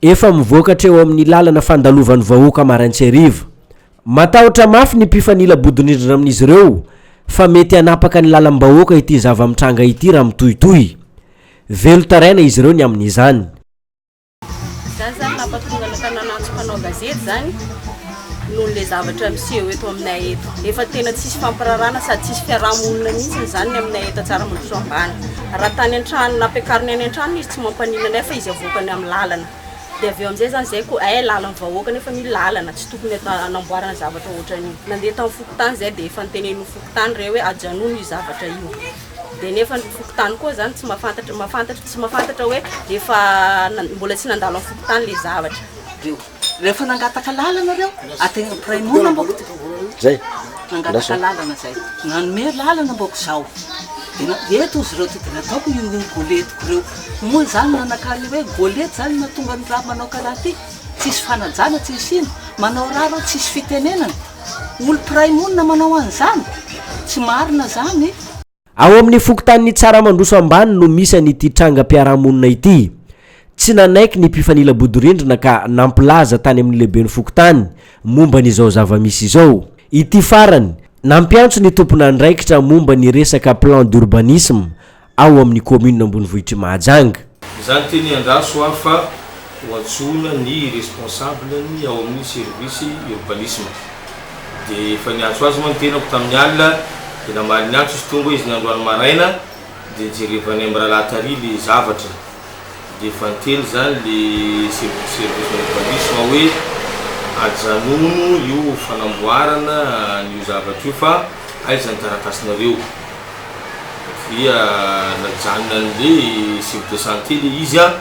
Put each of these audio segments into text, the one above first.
Efa mivoaka hatreo amin'ny lalana fandalovan'ny vahoaka maraintsy hariva. Matahotra mafy ny mpifanila bodirindrina amin'izy ireo fa mety hanapaka ny lalam-bahoaka ity zava-mitranga ity raha mitohitohy. Velon-taraina izy ireo ny amin'izany. Izany izany nampahatonga ny tanàna antso mpanao gazety izany. noho le zavatra miseho eto aminay eto. Efa tena tsisy fampirarana sady tsisy fiaraha-monina mihitsy izany ny aminay eto Antsaramadiso ambany. Raha tany an-trano nampiakariny any an-tranony izy tsy mampaninona anay fa izy avoakany amin'ny lalana. Dia avy eo amin'izay izany izay koa eh lalan'ny vahoaka nefa io lalana tsy tokony hanamboarana zavatra ohatran'io. Nandeha tamin'ny fokontany izay dia efa notenenin'ny fokontany re hoe ajanony io zavatra io. Dia nefa ny fokontany koa izany tsy mahafantatra mahafantatra tsy mahafantatra hoe efa mbola tsy nandalo amin'ny fokontany le zavatra. Rehefa nangataka lalana reo, ategna mpiray monina mbôko ty. Zay. Nangataka lalana zay. Nanome lalana mbôko zaho. De eto ozy reo ty de nataoko io io goletiko reo. Moa zany nanakà le hoe golety zany mahatonga ny raha manao karaha ty. Tsisy fanajana, tsisy ino. Manao raha reo tsisy fitenenana. Olo mpiray monina manao an'zany. Tsy marina zany. Ao amin'ny fokontanin'i Tsaramandroso Ambany no misy an'ity trangam-piarahamonina ity. Tsy nanaiky ny mpifanila bodirindrina ka nampilaza tany amin'ny lehiben'ny fokontany momba ny izao zava-misy izao. Ity farany, nampiantso ny tompon'andraikitra momba ny resaka plan d'urbanisme ao amin'ny commune Ambonivohitr'i Mahajanga. Izany teny andraso aho fa ho antsoina ny responsable ny ao amin'ny service urbanisme de efa niantso azy moa ny tenako tamin'ny alina de namaly niantso izy tonga izy ny androany maraina de jerevanay miralahy tary le zavatra de efa niteny zany le service urbanisme hoe ajanono io fanamboarana an'io zavatra io fa aiza ny taratasinareo dia najanona anle Jupe de santé le izy an!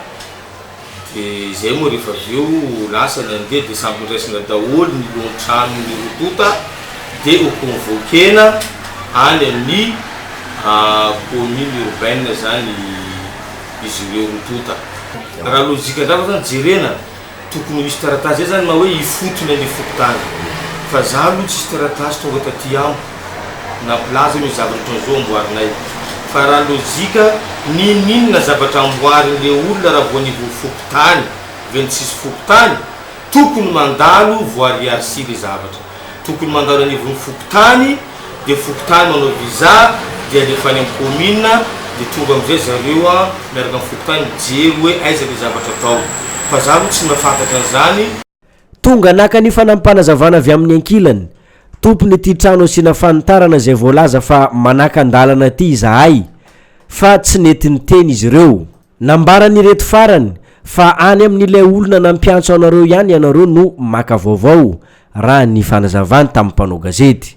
de zay moa rehefa avy eo lasa ny anle de samy noraisina daholo ny lohan trano ny roa tonta de ho convoquena any amin'ny commune urbaine zany izy ireo roa tonta! raha logique ndrava zany jerena! Tokony ho hisy taratasy zay zany na hoe ifotony any fokontany fa za aloha tsisy taratasy tonga taty amiko nampilaza hoe misy zavatra otran'izao amboarinay fa raha lojika ninoninona zavatra amboarin le olona raha vao ny ho fokontany ve ny tsisy fokontany tokony mandalo voariarsy le zavatra Tokony mandalo any ivon'ny fokontany dia fokontany manao visa dia alefa any amin'ny commune dia tonga amin'izay zareo an miaraka amin'ny fokontany mijery hoe aiza ilay zavatra atao fa za aloha tsy mahafantatra an'izany. Tonga naka ny fanampanazavana avy amin'ny ankilany, tompon'ity trano asiana fanitarana izay voalaza fa manaka an-dalana ity izahay fa tsy nety niteny izy ireo. Nambaran'ireto farany fa any amin'ilay olona nampiantso anareo ihany ianareo no maka vaovao, raha ny fanazavany tamin'ny mpanao gazety.